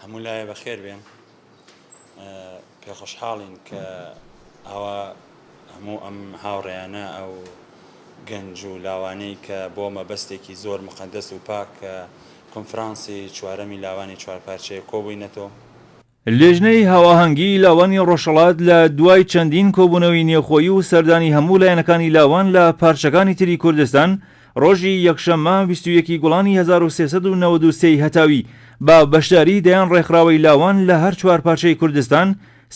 هەموو لایە بەخێر بێن پێخۆشحاڵین کە ئاوا هەموو ئەم هاوڕێیانە ئەو گەنج و لاوانەی کە بۆ مەبەستێکی زۆر مقدەس و پاک کە کنفرانسی چوارەمی لاوانی چوارپارچەیە کۆبووینەتەوە لیژنەی هاواهەنگیی لاوانی ڕۆژهەڵات لە دوای چەندین کۆبوونەوەی نێوخۆیی و سەردانی هەموو لایەنەکانی لاوان لە پارچەکانی تری کوردستان، ڕۆژی یەکشەممە بیست و یەک گوڵانی هەزار و سێ سەد و نەوەد و سێ ی هەتاوی بە بەشداریی دەیان ڕێکخراوەی لاوان لە هەر چوار پارچەی کوردستان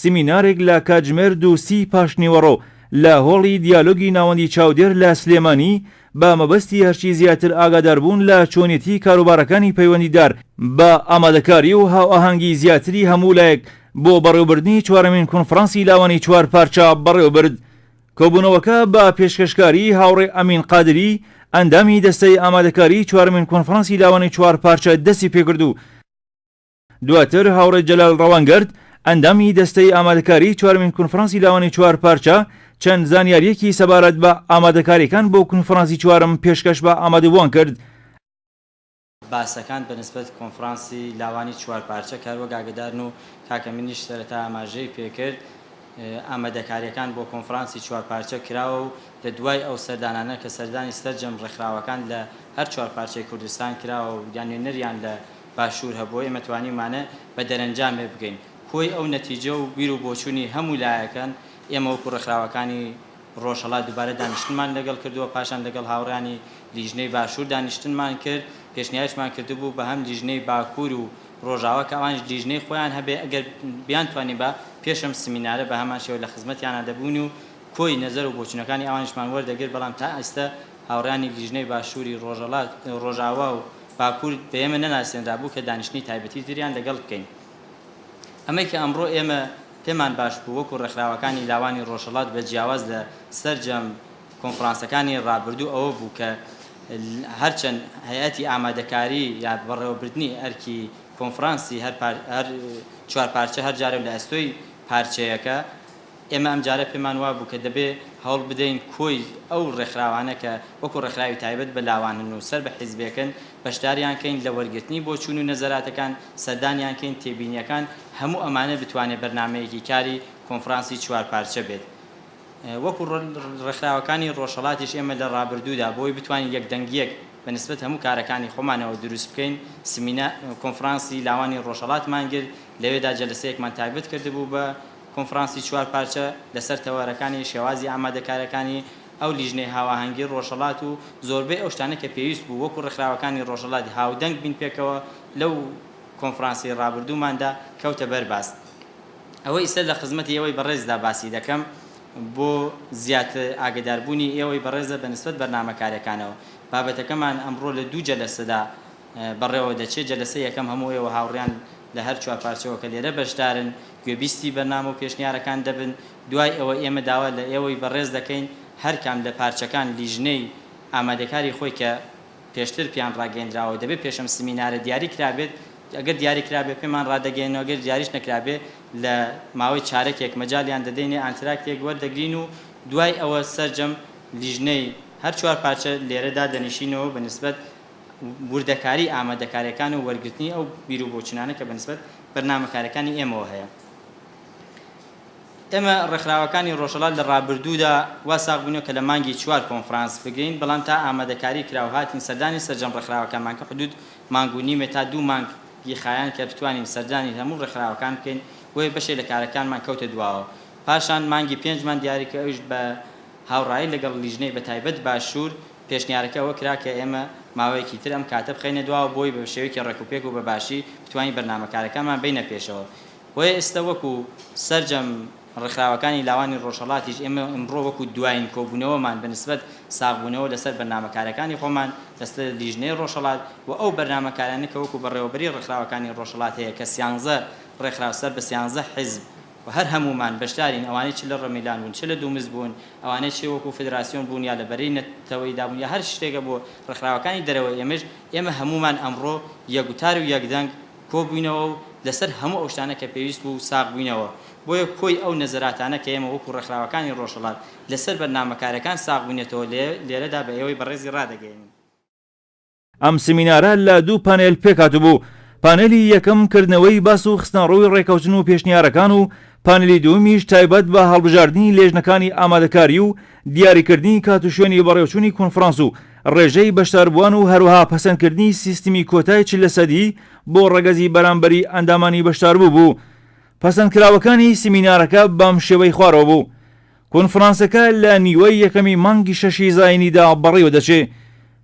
سیمینارێک لە کاتژمێر دوو و سی پاشنیوەڕۆ لە هۆڵی دیالۆگی ناوەندی چاودێر لە سلێمانی بە مەبەستی هەرچی زیاتر ئاگاداربوون لە چۆنێتیی کاروبارەکانی پەیوەندیدار بە ئامادەکاری و هاوئاهەنگیی زیاتری هەموو لایەک بۆ بەڕێوەبردنی چوارەمین کونفڕانسی لاوانی چوار پارچە بەڕێوەبرد. کۆبوونەوەکە بە پێشکەشکاریی هاوڕێ ئەمین قادری، ئەندامی دەستەی ئامادەکاریی چوارەمین کونفڕانسی لاوانی چوار پارچە دەستیپێکرد و، دواتر هاوڕێ جەلال ڕەوانگەرد، ئەندامی دەستەی ئامادەکاریی چوارەمین کونفرانسی لاوانی چوار پارچە، چەند زانیارییەکی سەبارەت بە ئامادەکارییەکان بۆ کونفرانسی چوارەم پێشکەش بە ئامادەبووان کرد، باسەکان بە نسبەت کونفرانسی لاوانی چوار پارچە کاروەک ئاگەدارن و کاکە منیش سەرەتا ئاماژەی پێکرد ئامادەکارییەکان بۆ کونفرانسی چوار پارچە کراوە و لە دوای ئەو سەردانانە کە سەردانی سەرجەم ڕێکخراوەکان لە هەر چوار پارچەی کوردستان کراوە و یا نوێنەریان لە باشوور هەبووە، ئێمە توانیومانە بە دەرەنجامێ بگەین کۆی ئەو نەتیجە و بیر و بۆچوونی هەموو لایەکەن، ئێمە وەکوو ڕێکخراوەکانی ڕۆژهەڵات دووبارە دانیشتنمان لەگەڵ کردووە، پاشان لەگەڵ هاوڕێیانی لیژنەی باشوور دانیشتنمان کرد، پێشنیاریشمان کردبوو بە هەم لیژنەی باکوور و ڕۆژاوا کە ئەوانیش لیژنەی خۆیان هەبێ ئەگەر بیانتوانی با پێش ئەم سمینارە بە هەمان شێوە لە خزمەتیانا دەبووین و کۆی نەزەر و بۆچوونەکانی ئەوانیشمان وەردەگرت، بەڵام تا ئێستە هاوڕێیانی لیژنەی باشووری ڕۆژهەڵات ڕۆژاوا و باکور بە ئێمە نەناسێنرابوو کە دانیشتنی تایبەتی تریان لەگەڵ بکەین. ئەمەی کە ئەمڕۆ ئێمە پێمان باش بوو وەکو ڕێکخراوەکانی لاوانی ڕۆژهەڵات بە جیاواز لە سەرجەم کۆنفرانسەکانی ڕابردوو ئەوە بوو کە هەرچەند هەیئەتی ئامادەکاری یا بەڕێوەبردنی ئەرکی کۆنفرانسی هەر چوار پارچە هەر جارەو لە ئەستۆی پارچەیەکە ئێمە ئەمجارە پێمان وابوو کە دەبێ هەوڵ بدەین کۆی ئەو ڕێکخراوانە کە وەکوو ڕێکخراوی تایبەت بە لاوانن و سەر بە حیزبێکن، بەشداریان کەین لە وەرگرتنی بۆچوون و نەزەراتەکان، سەردانیان کەین، تێبینییەکان، هەموو ئەمانە بتوانێ بەرنامەیەکی کاری کۆنفرانسی چوار پارچە بێت. وەکوو ڕێکخراوەکانی ڕۆژهەڵاتیش ئێمە لە ڕابردوودا بۆی بتوانین یەکدەنگییەک بە نسبەت هەموو کارەکانی خۆمانەوە دروست بکەین، سمینار، کۆنفرانسی لاوانی ڕۆژهەڵاتمان گرت، لەوێدا جەلەسەیەکمان تایبەت کردبوو بە، کۆنفرانسی چوار پارچە لەسەر تەوەرەکانی شێوازی ئامادەکاریەکانی ئەو لیژنەی هاواهەنگی ڕۆژهەڵات و زۆربەی ئەو شتانەی کە پێویست بوو وەکو ڕێکخراوەکانی ڕۆژهەڵات هاودەنگ بین پێکەوە لەو کۆنفرانسی ڕابردووماندا کەوتە بەر باس ئەوە ئیستە لە خزمەتی ئێوەی بەڕێزدا باسی دەکەم بۆ زیاتر ئاگەداربوونی ئێوەی بەڕێزە بەنسبەت بەرنامەکاریەکانەوە بابەتەکەمان ئەمڕۆ لە دوو جەلەسەدا بەڕێوە دەچێت، جەلەسەی یەکەم هەموو ئێوە هاوڕێیان لە هەر چوار پارچەوە کە لێرە بەشدارن گوێبیستی بەرنامە و پێشنیارەکان دەبن، دوای ئەوە ئێمە داوا لە ئێوەی بەڕێز دەکەین هەر کام لە پارچەکان لیژنەی ئامادەکاری خۆی کە پێشتر پێیان ڕاگەیەندراوە دەبێت پێش ئەم سمینارە دیاری کرابێت ئەگەر دیاری کرابێت پێمان ڕادەگەیەنن ئەگەر دیاریش نەکرابێت لە ماوەی چارەکێک مەجالیان دەدەینێ ئانتراکتێک وەردەگرین و دوای ئەوە سەرجەم لیژنەی هەر چوار پارچە لێرە دادەنیشینەوە بە نسبەت وردەکاریی ئامادەکارییەکان و وەرگرتنی ئەو بیر و بۆچوونانە کە بەنسبەت بەرنامەکارییەکانی ئێمەوە هەیە. ئێمە ڕێکخراوەکانی ڕۆژهەڵات لە ڕابردوودا وا ساغ بووینەوە کە لە مانگی چوار کۆنفرانس بگرین، بەڵام تا ئامادەکاری کرا و هاتین سەردانی سەرجەم ڕێکخراوەکانمان کرد، حدوود مانگ و نیمێ تا دوو مانگ ی خایاند کە بتوانین سەردانی هەموو ڕێکخراوەکان بکەین، بۆیە بەشێک لە کارەکانمان کەوتە دواوە. پاشان مانگی پێنجمان دیاری کرد، ئەویش بە هاوڕایی لەگەڵ لیژنەی بەتایبەت باشوور، پێشنیارەکە ئەوە کرا کە ئێمە ماوەیەکی تر ئەم کاتە بخەینە دواوە بۆی بە شێوەیەکی ڕێکوپێک و بە باشی بتوانین بەرنامە کارەکانمان بەینە پێشەوە. بۆیە ئێستە وەکو سەرجەم ڕێکخراوەکانی لاوانی ڕۆژهەڵاتیش ئێمە ئمڕۆ وەکو دوایین کۆبوونەوەمان بە نسبەت ساغبوونەوە لەسەر بەرنامە کارەکانی خۆمان لەسەر لیژنەی ڕۆژهەڵات و ئەو بەرنامە کارانە کە وەکو بەڕێوەبەری ڕێکخراوەکانی ڕۆژهەڵات هەیە کە سیانزە ڕێکخراو سەر بە سیانزە حیزب و هەر هەموومان بەشدارین ئەوانەی چ لە ڕمیلان بوون چ لە دوومز بوون ئەوانەی چ وەکوو فدراسیۆن بوون یا لە بەرەی نەتەوەییدا بوون یا هەر شتێکە بۆ ڕێکخراوەکانی دەرەوە ئێمەش ئێمە هەموومان ئەمڕۆ یەک وتار و یەک دەنگ کۆ بووینەوە و لەسەر هەموو ئەو شتانە کە پێویست بوو ساغ بووینەوە بۆیە کۆی ئەو نەزەراتانە کە ئێمە وەکوو ڕێکخراوەکانی ڕۆژهەڵات لەسەر بەرنامە کارەکان ساغ بووینەتەوە لێرەدا بە ئێوەی بەڕێزی ڕادەگەیەنین. ئەم سمینارە لە دوو پانێل پێکهاتبوو، پانێلی یەکەم کردنەوەی باس و خستنەڕووی ڕێکەوتن و پێشنیارەکان و پانێلی دووەمیش تایبەت بە هەڵبژاردنی لێژنەکانی ئامادەکاری و دیاریکردنی کات و شوێنی بەڕێوچوونی کۆنفرانس و ڕێژەی بەشداربووان و هەروەها پەسەندکردنی سیستمی کۆتای چل لە سەدی بۆ ڕەگەزی بەرامبەری ئەندامانی بەشداربوو بوو. پەسەندکراوەکانی سمینارەکە بەم شێوەی خوارەوە بوو. کۆنفرانسەکە لە نیوەی یەکەمی مانگی شەشی زاینیدا بەڕێوە دەچێ،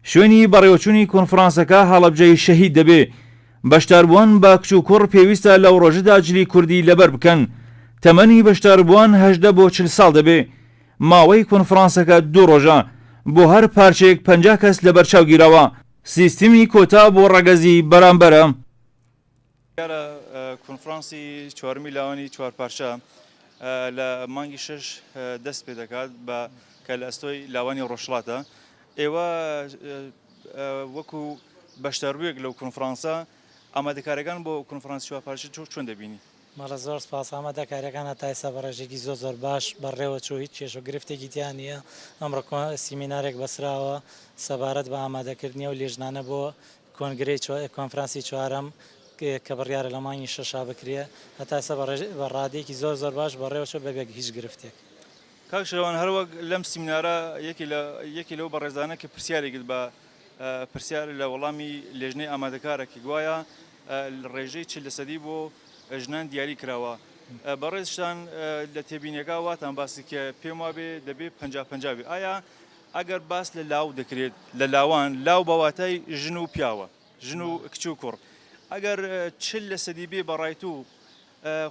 شوێنی بەڕێوەچوونی کۆنفرانسەکە هەڵەبجەی شەهید دەبێ، بەشداربووان بە کچ و کوڕ پێویستە لەو ڕۆژەدا جلی کوردی لەبەر بکەن، تەمەنی بەشداربووان هەژدە بۆ چل ساڵ دەبێ، ماوەی کۆنفرانسەکە دوو ڕۆژە، بۆ هەر پارچەیەک پەنجا کەس لەبەرچاو گیراوە، سیستمی کۆتا بۆ ڕەگەزی بەرامبەرە. دیارە کۆنفرانسی چوارمی لاوانی چوارپارچە لە مانگی شش دەست پێ دەکات بە کە لە ئەستۆی لاوانی ڕۆژڵاتە ئێوە وەکو بەشداروێک لەو کۆنفرانسە ئامادەکارەکان بۆ کۆنفرانسی چوارپارچە چۆ چۆن دەبینی؟ مەڵە زۆر سپاس ئامادە کارەکان هەتا ئێستا بە ڕێژێکی زۆر زۆر باش بەڕێوە چوو هیچ کێش و گرفتێکی تیا نییە ئەمڕۆ سیمینارێک بەسراوە سەبارەت بە ئامادەکردنی ئەو لێژنانە بۆ کۆنگرەی کۆنفرانسی چوارەم کە بڕیارە لە مانگی شەشا بکرێ هەتا ئێستا بە ڕادەیەکی زۆر زۆر باش بەڕێوە چووە بەبێ هیچ گرفتێک. کاک شێروان هەر وەک لەم سیمینارە یەکێ لە یەکێ لەو بەڕێزانە کە پرسیاری کرد بە پرسیار لە وەڵامی لێژنەی ئامادەکارە کە گوایە ڕێژەی چل لە سەدی بۆ ژنان دیاری کراوە بەڕێزشتان لە تێبینیەکە واتان باس کرد کە پێم وابێ دەبێ پەنجا پەنجا بێ ئایا ئەگەر باس لە لاو دەکرێت لە لاوان، لاو بە واتای ژن و پیاوە، ژن و کچ و کوڕ. ئەگەر چل لە سەدی بێ بە ڕای تو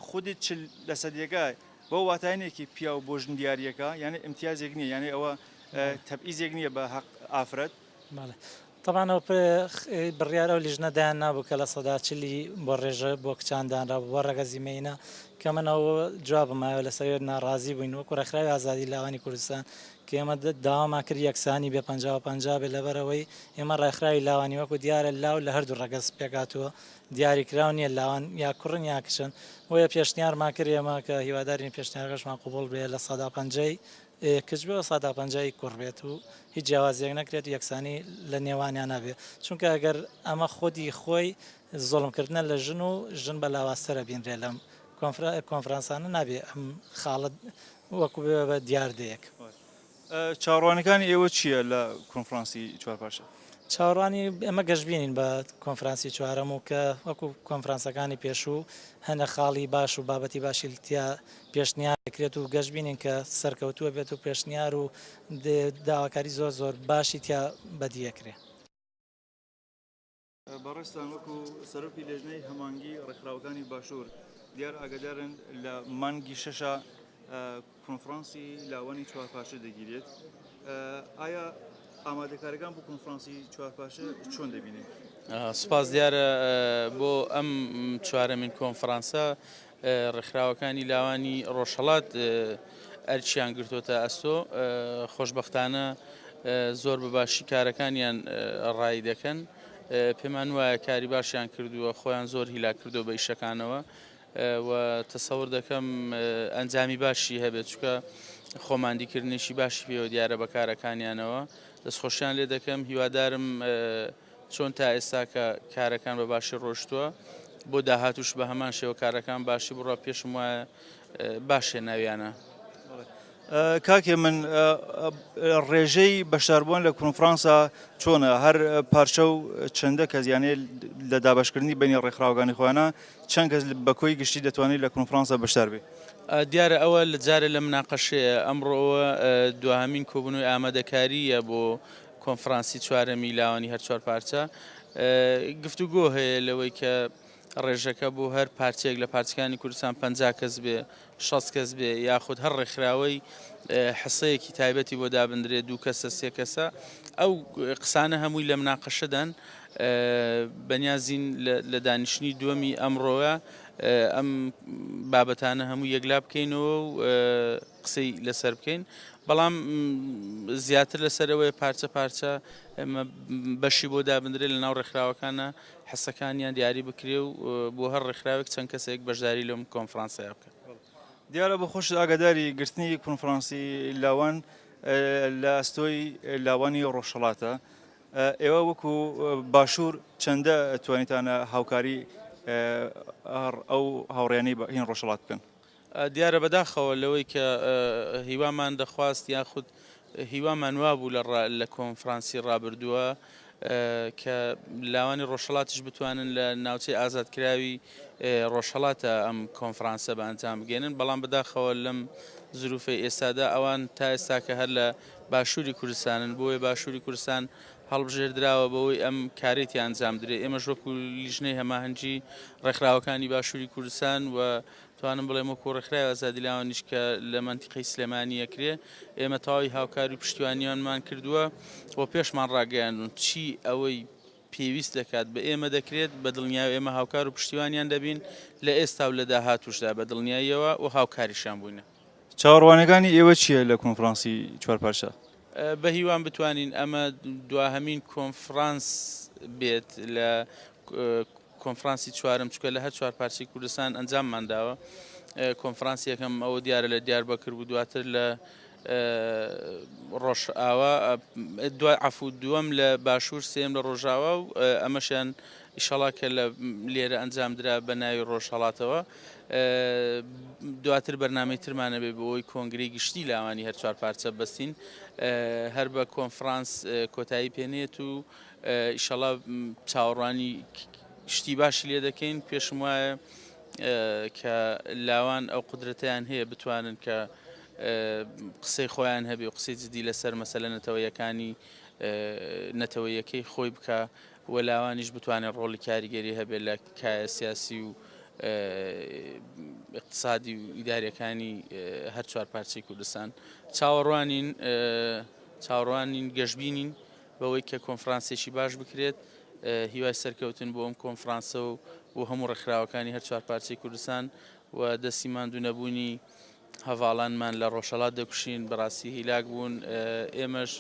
خودی چل لە سەدیەکە بەو واتایە نیە کە پیاو بۆ ژن دیاریەکە یانێ ئمتیازێک نیە یانێ ئەوە تەبئیزێک نیە بە هەق ئافرەت. بەڵێ تەبعەن ئەو بڕیار ئەو لیژنە دایان نابوو کە لە سەدا چلی بۆ ڕێژە بۆ کچان دانرابوو بۆ ڕەگەزی مێینە کە من ئەو جوابم ئاوێ لەسەر وێت ناڕازی بووین وەکو ڕێکخراوی ئازادی لاوانی کوردستان کە ئێمە داوامان کرد یەکسانی بێ پەنجا و پەنجا بێ لەبەرەوەی ئێمە ڕێکخراوی لاوانی وەکو دیارە لاو لە هەردوو ڕەگەز پێکاتووە دیاری کراو نییە لاوان یا کوڕن یا کچن بۆیە پێشنیارمان کرد ئێمە کە هیوادارین پێشنیارەکەشمان قوبوڵ بێ لە سەدا پەنجەی کچ بێ و سادق پەنجایی کوڕ بێت و هیچ جیاوازیەک نەکرێت و یەکسانی لە نێوانیان نەبێ چونکە گەر ئەمە خودی خۆی زوڵم کردنە لە ژن و ژن بە لاوازترە بینرێ لەم کۆنفرانسانە نابێ ئەم خاڵە وەکو بێ بە دیاردەیەک. چاوەڕوانیەکانی ئێوە چییە لە کۆنفرانسی چوار پارچە؟ چاوەڕوانی ئێمە گەشبینین بە کۆنفرانسی چوارەم و کە وەکو کۆنفرانسەکانی پێشوو هەنە خاڵی باش و بابەتی باشی تیا پێشنیار دەکرێت و گەشبینین کە سەرکەوتووە بێت و پێشنیار و داواکاری زۆر زۆر باشی تیا بەدیەکرێ. بەڕێزتان وەکو سەرۆکی لێژنەی هەمانگی ڕێکخراوەکانی باشوور دیار ئاگدارن لە مانگی شەشا کۆنفرانسی لاوانی چوارپاشە دەگیرێت ئایا ئامادەکارەکان بۆ کۆنفرانسی چوارپاشە چۆن دەبینێت؟ سپاس دیارە بۆ ئەم چوارەمین کۆنفرانسە ڕێکخراوەکانی لاوانی ڕۆژهەڵات ئەرکیان گرتۆتە ئەستۆ، خۆشبەختانە زۆر بە باشی کارەکانیان ڕایی دەکەن، پێمان وایە کاری باشیان کردووە، خۆیان زۆر هیلاک کردووە بە ئیشەکانەوە و تەسەور دەکەم ئەنجامی باشی هەبێت، چونکە خۆماندیکردنێکی باشی پێوە دیارە بە کارەکانیانەوە، دەستخۆشیان لێ دەکەم، هیوادارم چۆن تا ئێستا کە کارەکان بە باشی ڕۆشتووە بۆ داهاتوش بە هەمان شێوە کارەکان باشی بڕە پێشم وایە باشێ ناویانە. کاکێ من ڕێژەی بەشداربووان لە کۆنفرانسا چۆنە هەر پارچە و چەندە کەس یانێ لە دابشکردنی بینی ڕێکخراوەکانی خۆیانە چەند کەس بە کۆی گشتی دەتوانێت لە کۆنفرانسا بەشدار بێت دیارە ئەوە لە جارێ لە مناقەشەیە ئەمڕۆوە دواهمین کۆبنەوەی ئامادەکاریە بۆ کۆنفرانسی چوارەمی لاوانی هەر چوار پارچە گفتوگۆ هەیە لەوەی کە ڕێژەکە بۆ هەر پارچەیەک لە پارچەکانی کوردستان پ کەس بێ شەست کەس بێ یاخود هەر ڕێکخراوەی حسەیەکی تایبەتی بۆ دابدرێ دوو کەسە سێ کەسە ئەو قسانە هەمووی لە مناقەشەدان بەنیازین لە دانیشتنی دووەمی ئەمڕۆە ئەم بابەتانە هەموو یەکلا بکەینەوە و قسەی لەسەر بکەین بەڵام زیاتر لەسەرەوەی پارچە پارچە بەشی بۆ دابدرێت لە ناو ڕێکخراوەکانە حەسەکانیان دیاری بکرێ و بۆ هەر ڕێکخراوێک چەند کەسێک بەشداری لەم کۆنفرانسەیە بکە دیارە بە خۆش ئاگاداری گرتنی کۆنفرانسی لاوان لە ئەستۆی لاوانی ڕۆژهڵاتە ئێوە وەکو باشوور چەندە توانیتانە هاوکاری ئەو هاوڕێنی بە هین ڕۆژهڵات بکەن دیارە بەداخەوە لەوەی کە هیوامان دەخواست یاخود هیوامان وابوو لە کۆنفرانسی ڕابردووە کە لاوانی ڕۆژهڵاتیش بتوانن لە ناوچەی ئازادکراوی ڕۆژهڵاتە ئەم کۆنفرانسە بە ئەنجام بگەێنن بەڵام بەداخەوە لەم زروفی ئێستادا ئەوان تا ئێستاکە هەر لە باشووری کوردستانن بۆیە باشووری کوردستان هەڵبژێردراوە بەوەی ئەم کارێتی ئەنجام درێ ئێمەش وەکو لیژنەی هەماهەنگی ڕێکخراوەکانی باشووری کوردستان و توانم بڵێم وەکو ڕێکخراوی ئازادی لاوانیش کە لە مەنتیقەی سلێمانی ئەکرێ ئێمە تەواوی هاوکاری و پشتیوانیانمان کردووە و پێشمان ڕاگەیاندون چی ئەوەی پێویست دەکات بە ئێمە دەکرێت بە دڵنیای ئێمە هاوکار و پشتیوانیان دەبین لە ئێستا و لە داهاتووشدا بە دڵنیاییەوە و هاوکاریشیان بووینە. چاوەڕوانیەکانی ئێوە چیە لە کۆنفرانسی چوار پارچە؟ بە هیوام بتوانین ئەمە دواهەمین کۆنفرانس بێت لە کۆنفرانسی چوارەم چونکە لە هەر چوار پارچەی کوردستان ئەنجاممان داوە کۆنفرانسی یەکەم ئەوە دیارە لە دیاربەکر بوو دواتر لە ڕۆژئاوا دوای عفو دووەم لە باشوور سێم لە ڕۆژاوا و ئەمەشیان ئیشەڵا کە لە لێرە ئەنجام درا بە ناوی ڕۆژهڵاتەوە دواتر بەرنمەی ترمانە بێ بۆی کۆنگری گشتی لاوانی هەرچوار پارچە بەستین هەر بە کۆنفرانس کۆتایی پێنێت و ئیشەڵا چاوەڕوانی شتی باشی لێ دەکەین پێشم وایە کە لاوان ئەو قدرەتیان هەیە بتوانن کە قسەی خۆیان هەبێ و قسەی جدی لەسەر مەسەلە نەتەوەیەکانی نەتەوەیەکەی خۆی بکە و لاوانیش بتوانێت ڕۆڵی کاریگەری هەبێت لە کایە سیاسی و اقتصادی و ئیدارەکانی هەر چوار پارچەی کوردستان چاوەڕوانین چاوەڕوانین گەشببینین بەوەی کە کۆنفرانسێکی باش بکرێت، هیوای سەرکەوتن بۆ ئەم کۆنفرانسە و بۆ هەموو ڕێکخراوەکانی هەر چوار پارچەی کوردستان و دەستی ماندوو نەبوونی هەڤاڵانمان لە ڕۆژهەڵات دەکوشین، بەڕاستی هیلاک بوون، ئێمەش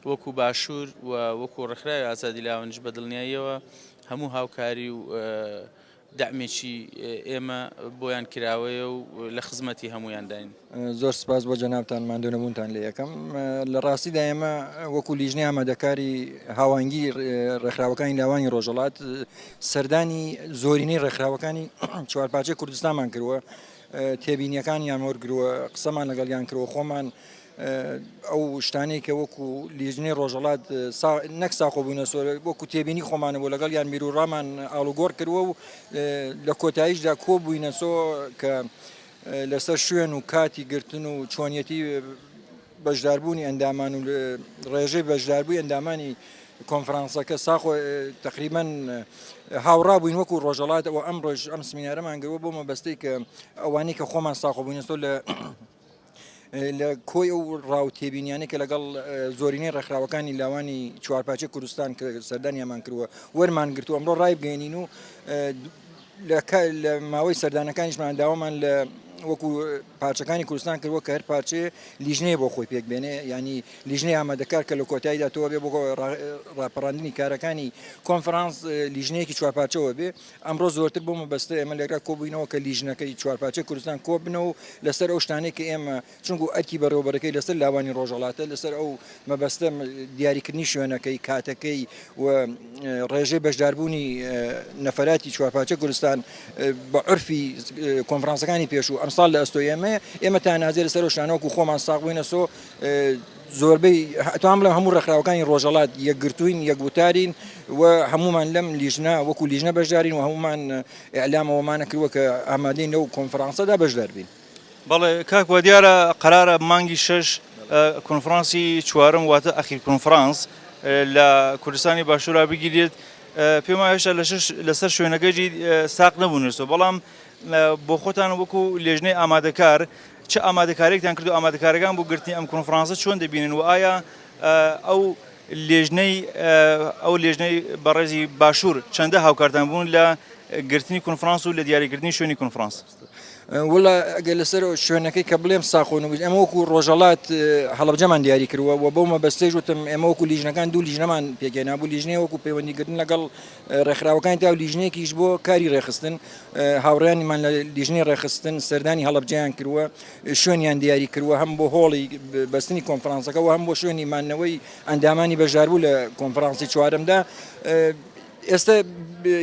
وەکو باشوور و وەکو ڕێکخراوی ئازادی لاوانیش بە دڵنیاییەوە هەموو هاوکاری و دەعمێکی ئێمە بۆیان کراوەیە و لە خزمەتی هەموویانداین. زۆر سپاس بۆ جەنابتان ماندوونەبوونتان لێ یەکەم. لە ڕاستیدا ئێمە وەکو لیژنەی ئامادەکاری هاوانگی ڕێکخراوەکانی لاوانی ڕۆژەڵات سەردانی زۆرینەی ڕێکخراوەکانی چوارپارچەی کوردستانمان کردووە تێبینیەکانیان وەرگرەوە قسەمان لەگەڵیان کرەوە خۆمان ئەو شتانەی کە وەکو لیژنەی ڕۆژەڵات نەک ساخۆ بوونە سۆر وەکو تێبینی خۆمانە بۆ لەگەڵ یان بیرروڕامان ئاڵوگۆڕ کردوە و لە کۆتاییشدا کۆ بووینە سۆ کە لەسەر شوێن و کاتی گرتن و چۆنیەتی بەشداربوونی ئەندامان و ڕێژەی بەشداربووی ئەندامانی کۆنفرانسەکە ساخۆ تقریبان هاوڕا بووین وەکو ڕۆژەڵات ئەو ئەم ڕۆژ ئەم سمینارەمان گەوە بۆ مەبەستی کە ئەوانی کە خۆمان ساخۆ بووینەوە لە لە کۆی ئەو ڕاو تێبینیانە کە لەگەڵ زۆرینەی ڕێکخراوەکانی لاوانی چوارپاچە کوردستان کە سەردانیامان کردووە وەرمان گرتو ئەمڕۆ ڕای بگەێنین و لە ماوەی سەردانەکانیشمان داوامان لە وەکو پارچەکانی کوردستان کردوە کە هەر پارچەیە لیژنەیە بۆ خۆی پێک بێنێ یعنی لیژنەی ئامادەکار کە لە کۆتاییدا تۆ بێ بۆ ڕاپەڕاندنی کارەکانی کۆنفرانس لیژنەیەکی چوار پارچەوە بێ ئەمڕۆ زۆرتر بۆ مەبەستە ئێمە لێرا کۆبووینەوە کە لیژنەکەی چوار پارچەی کوردستان کۆبنەوە لەسەر ئەو شتانەی کە ئێمە چونگو ئەرکی بەڕێوەبەرەکەی لەسەر لاوانی ڕۆژەڵاتە لەسەر ئەو مەبەستم دیاریکردنی شوێنەکەی، کاتەکەی و ڕێژەی بەشداربوونی نەفەراتی چوارپاچە گولستان بە عرفی کۆنفرانسەکانی پێش و ئەمساڵ لە ئەستۆ ئێمەیە ئێمە تا نازێ لەسەر و شانۆکو خۆمان ساغ بووینە سۆ زۆربەی ئەتوان بڵێ هەموو ڕێکخراوەکانی ڕۆژەڵات یەکگرتوین یەک وتارین و هەمومان لەم لیژنا وەکو لیژنە بەشدارین و هەمومان ئەلامەوەمانە کردوە کە ئامادەین لەو کۆنفرانسەدا بەشداربین. بەڵێ کاک وادیارە قەرارە مانگی شەش کۆنفرانسی چوارم واتە ئەخیر کۆنفرانس لە کوردستانی باشورا بگیرێت پێم وایە هێشتا لە شەش لەسەر شوێنەکەیی ساق نەبوونێتەوە بەڵام بۆ خۆتان وەکو لێژنەی ئامادەکار چ ئامادەکاریێکتان کرد و ئامادەکارەکان بۆ گرتنی ئەم کۆنفرانسە چۆن دەبینن و ئایا ئەو لێژنەی ئەو لێژنەی بەڕێزی باشوور چەندە هاوکارتان بوون لە گرتنی کۆنفرانس و لە دیاریکردنی شوێنی کۆنفرانس وەڵا ئەگەر لەسەر شوێنەکەی کە بڵێم ساخۆن وگوت ئەمە وەکو ڕۆژەڵات هەڵبجەمان دیاری کردوە و بەو مەبەستێژ وتم ئێمە وەکو لیژنەکان دوو لیژنەمان پێکێنا بوو لیژنەیە وەکو پەیوەندیکردن لەگەڵ ڕێکخراوەکان تا و لیژنێکیش بۆ کاری ڕێخستن هاوڕیانیمان لە لیژنی ڕێخستن سەردانی هەڵبجیان کردوە شوێنیان دیاری کردوە هەم بۆ هۆڵی بەستنی کۆنفرانسەکە و هەم بۆ شوێنی مانەوەی ئەندامانی بەژاربوو لە کۆنفرانسی چوارمدا ئێستە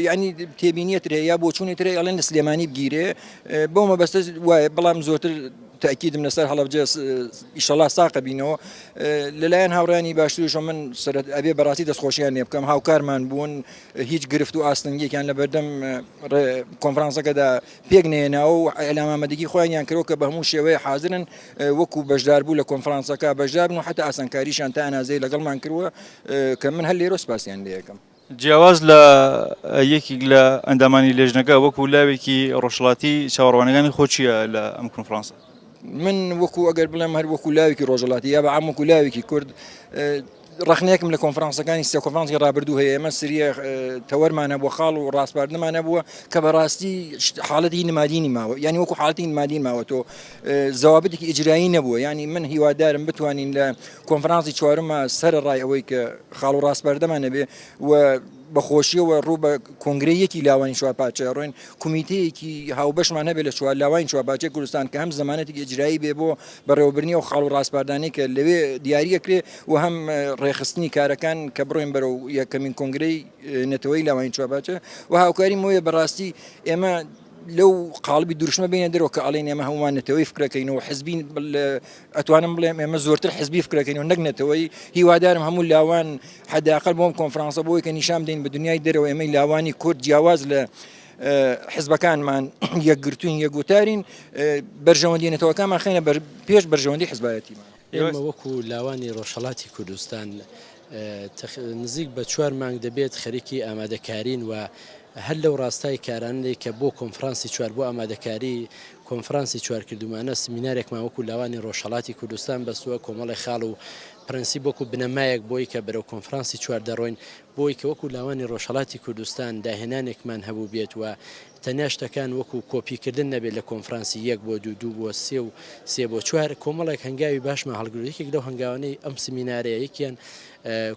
یعنی تێبینیت رێ یا بۆچوونی ترێ ئەڵێن لە سلێمانی بگیرێ بۆ مەبەستە وایە بەڵام زۆرتر تاکیدم لەسەر هەڵبجە ئیشەڵا ساقە بینەوە لەلایەن هاوڕانی باشترش من سرەت ئەبێ بەڕاستی دەستخۆشیان لێ بکەم هاوکارمان بوون هیچ گرفت و ئاستنگێکیان لە بەردەم کۆنفرانسەکەدا پێک نەهێناوە و ئیعلام ئامادەگی خۆیانیان کردووە کە بە هەموو شێوەیە حازرن وەکوو بەشداربوو لە کۆنفرانسەکە بەشدار بن و حەتا ئاسانکاریشیان تا ئەنازەیە لەگەڵمان کردووە کە من هەر لێرەوە سپاسیان لێ ئەکەم. جیاواز لە یەکێک لە ئەندامانی لێژنەکە، وەکوو لاوێکی ڕۆژهەڵاتی چاوەڕوانیەکانی خۆت چییە لە ئەم کۆنفرانسە؟ من وەکوو ئەگەر بڵێم هەر وەکوو لاوێکی ڕۆژهەڵاتی یا بە عام وەکوو لاوێکی کورد، ڕەخنەیەکم لە کۆنفرانسەکانی سێ کۆنفرانسی ڕابردوو هەیە ئێمە سریە تەوەرمانە بۆ خاڵ و ڕاستپاردنمانە بووە کە بەڕاستی حاڵەتی نمادینی ماوە ینی وەکو حاڵتی نمادی ماوە تۆ زەوابتێکی ئیجرایی نەبووە ینی من هیوادارم بتوانین لە کۆنفرانسی چوارمە سەر ڕای ئەوەی کە خاڵ و ڕاستپاردەمانە بێ و بە خۆشیەوە ڕوو بە کۆنگرەی یەکی لاوانی چوار پارچە ئەڕۆین، کومیتەیەکی هاوبەشمان هەبێت لە چوار لاوانی چوار پارچەی کوردستان کە هەم زەمانەتێکی ئیجرایی بێ بۆ بەڕێوەبردنی ئەو خاڵ و ڕاسپاردانەی کە لەوێ دیاری ئەکرێ و هەم ڕێکخستنی کارەکان کە بڕۆین بەرەو یەکەمین کۆنگرەی نەتەوەیی لاوانی چوار پارچە و هاوکاری مۆیە بەڕاستی ئێمە لەو قاڵبی دروشمە بێینە دەرەوە کە ئەڵێین ئێمە هەموومان نەتەوەی فکرەکەین و حزبین، ئەتوانم بڵێم ئێمە زۆرتر حزبی فکرەکەین و نەک نەتەوەی هیوادارم هەموو لاوان حداقل بۆم کۆنفرانسە بۆی کە نیشان دەین بە دنیای دەرەوە ئێمەی لاوانی کورد جیاواز لە حزبەکانمان یەکگرتوین یەکگوتارین بەرژەوەندی نەتەوەکانمان خێنە پێش بەرژەوەندی حزبایەتیمان ئێمە وەکو لاوانی ڕۆژهڵاتی کوردستان نزیک بە چوار مانگ دەبێت خەریکی ئامادەکارین و هەر لەو ڕاستای کارانەی کە بۆ کۆنفرانسی چوار بۆ ئامادەکاری کۆنفرانسی چوار کردوومانە، سمینارێکمان وەکوو لاوانی ڕۆژهەڵاتی کوردستان بەستووە، کۆمەڵێ خاڵ و پرەنسیپ وەکوو بنەمایەک بۆی کە بەرەو کۆنفرانسی چوار دەڕۆین، بۆی کە وەکوو لاوانی ڕۆژهەڵاتی کوردستان داهێنانێکمان هەبووبێت و تەنیا شتەکان وەکوو کۆپی کردن نەبێت لە کۆنفرانسی یەک بۆ دوو، دوو بۆ سێ و سێ بۆ چوار، کۆمەڵێک هەنگاوی باشمان هەڵگرت، یەکێک لەو هەنگاوانەی ئەم سمینارەیە یەکیان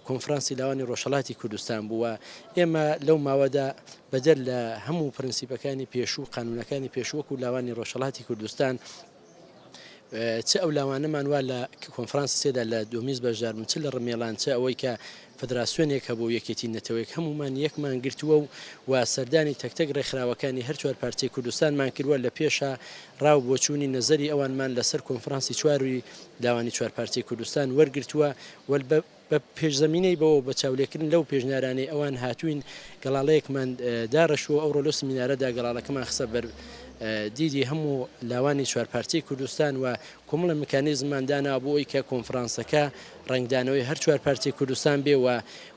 کۆنفرانسی لاوانی ڕۆژهەڵاتی کوردستان بوو و ئێمە لەو ماوەدا بەدەر لە هەموو پرنسیپەکانی پێشوو و قانونەکانی پێشوو وەکو لاوانی ڕۆژهەڵاتی کوردستان چ ئەو لاوانەمان وا لە کۆنفرانس سێدا لە دومیز بەشدار بن چ لە ڕمێلان چ ئەوەی کە فدراسیۆنێک هەبوو یەکێتی نەتەوەیەک هەمومان یەکمان گرتووە و و سەردانی تەکتەک ڕێکخراوەکانی هەر چوار پارچەی کوردستانمان کردووە لە پێشە ڕاو بۆچوونی نەزەری ئەوانمان لەسەر کۆنفرانسی چواری داوانی چوار پارچەی کوردستان وەرگتووە وەل بە پێشزەمینەی بەوە بە چاولێکردن لەو پێشنیارانەی ئەوان هاتووین گەڵاڵەیەکمان داڕشت و ئەوڕۆ لەو سمینارەدا گەڵاڵەکەمان خستە بەر دیدی هەموو لاوانی چوارپارچەی کوردستان و کۆمەڵە میکانیزممان دانا بۆ ئەوی کە کۆنفرانسەکە ڕنگدانەوەی هەر چوارپارچەی کوردستان بێ و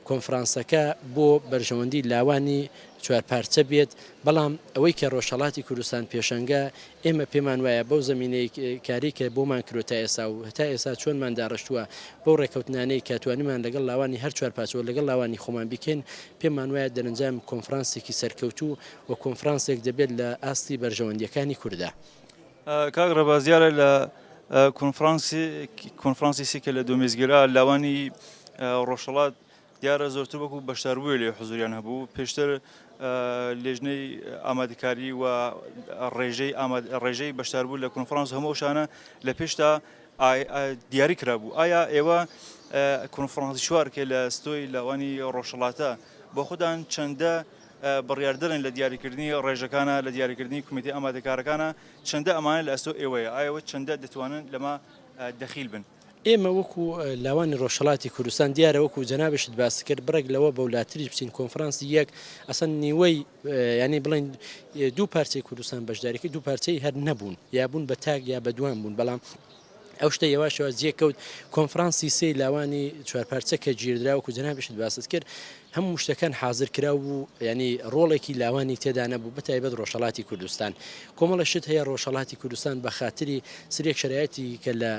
کۆنفرانسەکە بۆ بەرژەوەندی لاوانی چوارپارچە بێت بەڵام ئەوەی کە ڕۆژهڵاتی کوردستان پێشەنگە ئێمە پێمان وایە بەو زەمینەی کاری کە بۆمان کرۆ تا ئێسا و هەتا ئێسا چۆنمان داڕشتووە بەو ڕێکەوتنانەی کە توانیمان لەگەڵ لاوانی هەر چوار پاچەوە لەگەڵ لاوانی خۆمان بیکەین پێمان وایە دەرنجام کۆنفرانسێکی سەرکەوتوو و کۆنفرانسێک دەبێت لە ئاستی بەرژەوەندیەکانی کورددا. کاک ڕەبا زیارە لە کۆنفرانسی کۆنفرانسی سیکە لە دۆمیزگرا لاوانی ڕۆژهەڵات دیارە زۆرتر وەکو بەشداربووێ لێ حزوریان هەبوو پێشتر لێژنەی ئامادەکاری و ڕێژەی ڕێژەی بەشداربوو لە کۆنفرانس هەموو شانە لە پێشتا دیاری کرابوو ئایا ئێوە کۆنفرانسی شوارکە لە ستۆی لەوانی ڕۆژهڵاتە بۆ خوددان چەندە بڕاردرن لە دیاریکردنی ڕێژەکانە لە دیاریکردنی کومیتی ئامادەکارەکانە چەندە ئەمانە لە ئەستۆ ئێوەیە ئایەوە چەندە دەتوانن لەمە دەخیل بن. ئێمە وەکو لاوانی ڕۆژهەڵاتی کوردستان دیارە وەکو جەنابشت باس کرد بڕێک لەوە بەولاتریش بچین کۆنفرانسی یەک ئەسەن نیوەی ینی بڵین دوو پارچەی کوردستان بەشداریکە دوو پارچەی هەر نەبوون یابوون بە تاک یا بەدوام بوون بەڵام ئەو شتە یەواشەوە جێکەوت کۆنفرانسی سێ لاوانی چوارپارچە کە گیردراوەکو جەنابشت باست کرد هەموو شتەکان حازر کراو بوو یانی ڕۆڵێکی لاوانی تێدا نەبوو بەتایبەت ڕۆژهەڵاتی کوردستان کۆمەڵە شت هەیە ڕۆژهەڵاتی کوردستان بە خاتری سرێک شرایەتی کە لە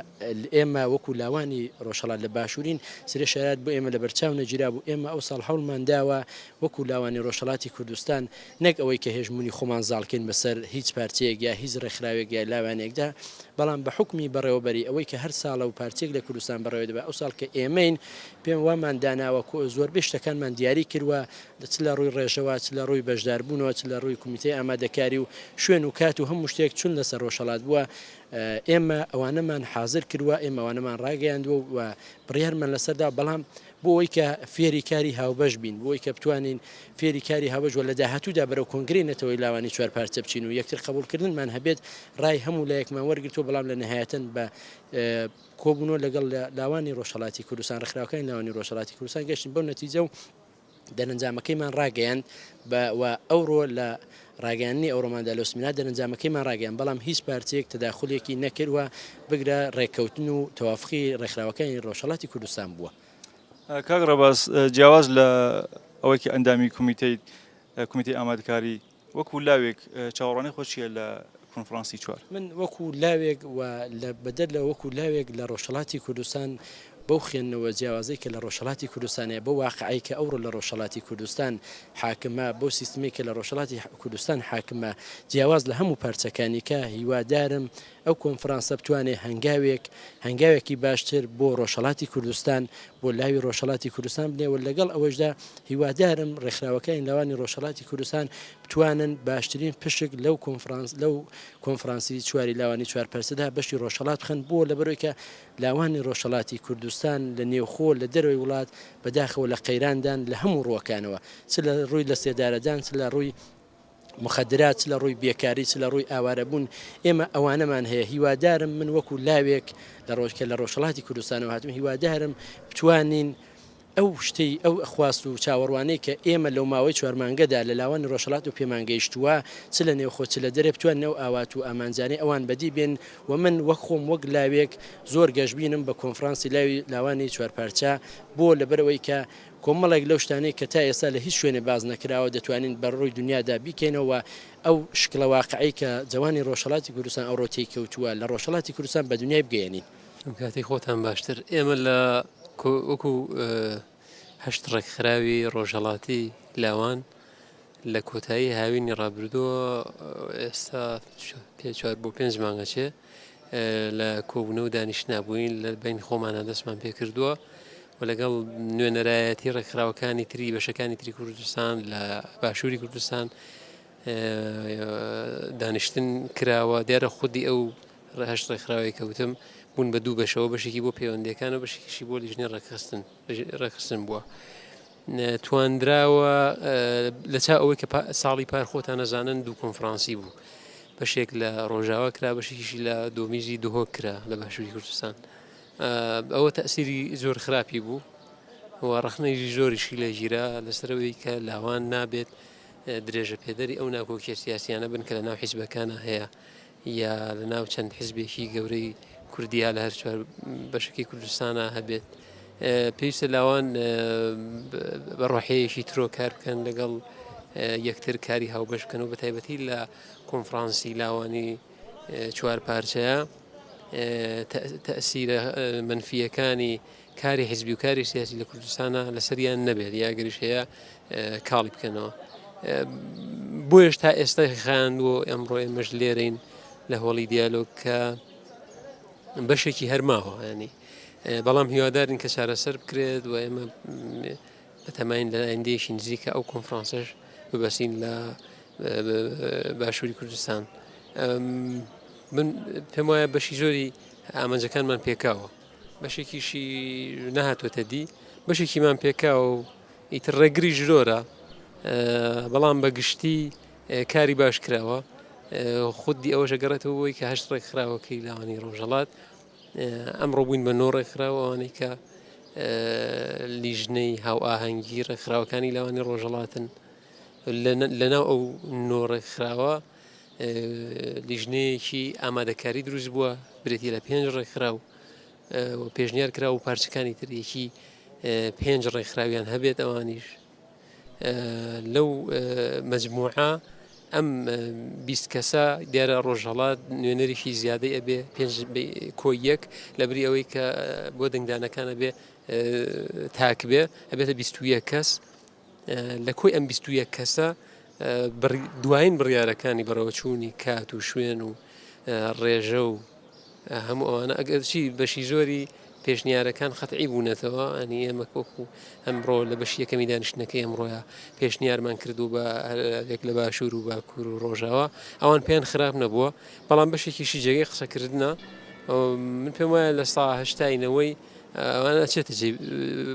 ئێمە وەکو لاوانی ڕۆژهڵات لە باشوورین سرێ شایەت بۆ ئێمە لە بەرچاو نەگیرا بوو ئێمە ئەو ساڵ هەوڵمان داوە وەکو لاوانی ڕۆژهەڵاتی کوردستان نەک ئەوەی کە هێژمونی خۆمان زاڵکەین بەسەر هیچ پارچەیەک یا هیچ ڕێکخراوێک یا لاوانێکدا بەڵام بە حکومی بەڕێوەبەری ئەوەی کە هەر ساڵە و پارچێک لە کوردستان بەڕێوە دەبە ئەو ساڵ کە ئێمەین پێم وامان داناوە کۆ زۆربەی شتەکانمان دیاری کردوە چ لە ڕووی ڕێژەوە چ لە ڕووی بەشداربوونەوە چ لە ڕووی کومیتەی ئامادەکاری و شوێن و کات و هەموو شتێک چون لەسەر ڕۆژهەڵات بووە ئێمە ئەوانەمان حازر کردوە ئێمە ئەوانەمان ڕاگەیاندوە و بڕیارمان لەسەردا بەڵام بۆ ئەوەی کە فێری کاری هاوبەش بین بۆی کە بتوانین فێری کاری هاوبەش وە لە داهاتوودا بەرەو کۆنگری نەتەوەی لاوانی چوار پارچە بچین و یەکتر قبولکردنمان هەبێت ڕای هەموو لایەکمان وەرگتو بەڵام لە نهایەتەن بە کۆبوونەوە لەگەڵ لاوانی ڕۆژهەڵاتی کوردستان ڕخراوەکانی لاوانی ڕۆژهڵاتی کوردستان گەشتن بەو نەتیجە و دەرەنجامەکەیمان ڕاگەیاند و ئەوڕۆ لە ڕاگەیاننی ئەوڕۆماندا لە سمینار دەرەنجامەکەیمان ڕاگەیان بەڵام هیچ پارتێک تداخولێکی نەکردوە بگرە ڕێککەوتن و تەوافقی ڕێکخراوەکانی ڕۆژهڵاتی کوردستان بووە کاک ڕەباز جیاواز لە ئەوەیکە ئەندامی کومیتەی کومیتی ئامادکاری وەکو لاوێک چاوەڕوانی خۆت چیە لە کۆنفرانسی چوار؟ من وەکو لاوێک و لە بەدەر لە وەکو لاوێک لە ڕۆژهەڵاتی کوردستان بەو خوێندنەوە جیاوازەی کە لە ڕۆژهەڵاتی کوردستان هەیە، بەو واقعەی کە ئەوڕۆ لە ڕۆژهەڵاتی کوردستان حاکمە، بەو سیستمەی کە لە ڕۆژهەڵاتی کوردستان حاکمە، جیاواز لە هەموو پارچەکانیکە، هیوادارم ئەو کۆنفرانسە بتوانێ هەنگاوێک هەنگاوێکی باشتر بۆ ڕۆژهەڵاتی کوردستان بۆ لاوی ڕۆژهەڵاتی کوردستان بنێ و لەگەڵ ئەوەشدا هیوادارم ڕێکخراوەکانی لاوانی ڕۆژهەڵاتی کوردستان بتوانن باشترین پشک لەو کۆنفرانس لەو کۆنفرانسی چواری لاوانی چوار پرسدا بەشی ڕۆژهەڵات بخەن بۆ لەبەرەوەی کە لاوانی ڕۆژهەڵاتی کوردستان لە نێوخۆ لە دەرەوەی وڵات بەداخەوە لە قەیراندان لە هەموو ڕووەکانەوە چ لە ڕووی لە سێدارەدان چ لە ڕووی موخەدرات چ لە ڕووی بێکاری چ لە ڕووی ئاوارەبوون ئێمە ئەوانەمان هەیە هیوادارم من وەکو لاوێک لە ڕۆژکە لە ڕۆژهڵاتی کوردستانەوە هاتم هیوادارم بتوانین ئەو شتەی ئەو خواست و چاوەڕوانەی کە ئێمە لەو ماوەی چوارمانگەدا لە لاوان ڕۆژهڵات و پێمانگەیشتووە چ لە نێوخۆ چ لە دەرێ بتوان نەو ئاوات و ئامانجانەی ئەوان بەدی بێن و من وەک خۆم وەک لاوێک زۆر گەشببینم بە کۆنفرانسی لاوی لاوانی چوارپارچە بۆ لەبەرەوەی کە کۆمەڵێک لەو شتانەی کە تا ئێستا لە هیچ شوێنێ باس نەکراوە دەتوانین بە ڕووی دنیادا بیکەینەوە و ئەو شکڵە واقعەی کە جەوانی ڕۆژهەڵاتی کوردستان ئەوڕۆ تێی کەوتووە لە ڕۆژهەڵاتی کوردستان بە دنیای بگەیەنین. کاتی خۆتان باشتر ئێمە لە وەکو هەشت ڕێکخراوی ڕۆژهەڵاتی لاوان لە کۆتایی هاوینی ڕابردووە ئێستا پێ چوار بۆ پێنج مانگەچێ لە کۆبوونە و دانیش نبووین لە بین خۆمانە دەستمان پێ کردووە و لەگەڵ نوێنەرایەتی ڕێکخراوەکانی تری بەشەکانی تری کوردستان لە باشووری کوردستان دانیشتن کراوە دیارە خودی ئەو ڕهشت ڕێکخراوی کەوتم بوون بە دوو بەشەوە بەشێکی بۆ پەیوەندەکان و بەشێکیشی بۆ لیژنی ڕێکخستن ڕێکخستن بووە. تواندراوە لە چا ئەوەی کە ساڵی پار خۆتان نەزانن دوو کۆنفرانسی بوو بەشێک لە ڕۆژاوا کرا بەشێکیشی لە دۆمیزی دهۆک کرا لە باشووری کوردستان. ئەوە تەئسیری زۆر خراپی بوو و ڕخنەیشی زۆریشی لێگیرا لەسەرەوەی کە لاوان نابێت درێژە پێدەری ئەو ناکۆکیە سیاسیانە بن کە لە ناو حیزبەکانە هەیە یا لە ناو چەند حزبێکی گەورەی کوردیا لە هەر چوار بەشکی کوردستانە هەبێت پێویستە لاوان بە ڕۆحەیەکی ترۆ کار بکەن لەگەڵ یەکتر کاری هاوبەشکەن و بە تایبەتی لە کۆنفرانسی لاوانی چوار پارچەیە تەسیرە منفیەکانی کاری حزبی و کاری سیاسی لە کوردستانە لەسەریان نەبێت یاگەریش هەیە کاڵی بکەنەوە بۆیش تا ئێستا خیان بۆ ئەمڕۆ ئێمەش لێرەین لە هۆڵی دیالۆگ کە بەشێکی هەرماوە ینی بەڵام هیوادارین کە چارەسەر بکرێت و ئێمە بەتەماین لە ئایندەیەکی نزیکە ئەو کۆنفرانسەش ببەستین لە باشووری کوردستان من پێم وایە بەشی زۆری ئامانجەکانمان پێکاوە بەشێکیشی نەهاتوەتە دی بەشێکیمان پێکاو و ئیتر ڕێگری ژرۆرە بەڵام بە گشتی کاری باش کراوە خودی ئەوەشە گەڕێتەوە بۆی کە هەشت ڕێکخراوەکەی لاوانی ڕۆژەڵات ئەمڕۆ بووین بە نۆ ڕێکخرا و ئەوانەی کە لیژنەی هاوئاهەنگی ڕێکخراوەکانی لاوانی ڕۆژەڵاتن لەناو ئەو نۆ ڕێکخراوە لیژنەیەکی ئامادەکاری دروست بووە برێتی لە پێنج ڕێکخرا و پێشنیار کرا و پارچەکانی تریەکی پێنج ڕێکخراویان هەبێت ئەوانیش لەو مەجموعە ئەم بیست کەسە دیارە ڕۆژهڵات نوێنەرێکی زیادەی ئەبێ پێنج کۆی یەک لەبری ئەوەی کە بۆ دەنگدانەکانە بێ تاک بێ ئەبێتە بیستویە کەس لە کۆی ئەم بیستویە کەسە دوایین بڕیارەکانی بەڕەوەچوونی کات و شوێن و ڕێژە و هەموو ئەوانە ئەگەرچی بەشی زۆری پێشنیارەکان قەتعی بوونەتەوە ئەنی ئێمە کۆکو ئەمڕۆ لە بەشی یەکەمی دانیشتنەکە ئەمڕۆە پێشنیارمان کردو بە هەرێک لە باشوور و باکوور و ڕۆژاوە ئەوان پێیان خراپ نەبووە بەڵام بەشێکیشی جێگەی قسەکردە من پێم وایە لە ساهشتاینەوەی ئەوانە چێتە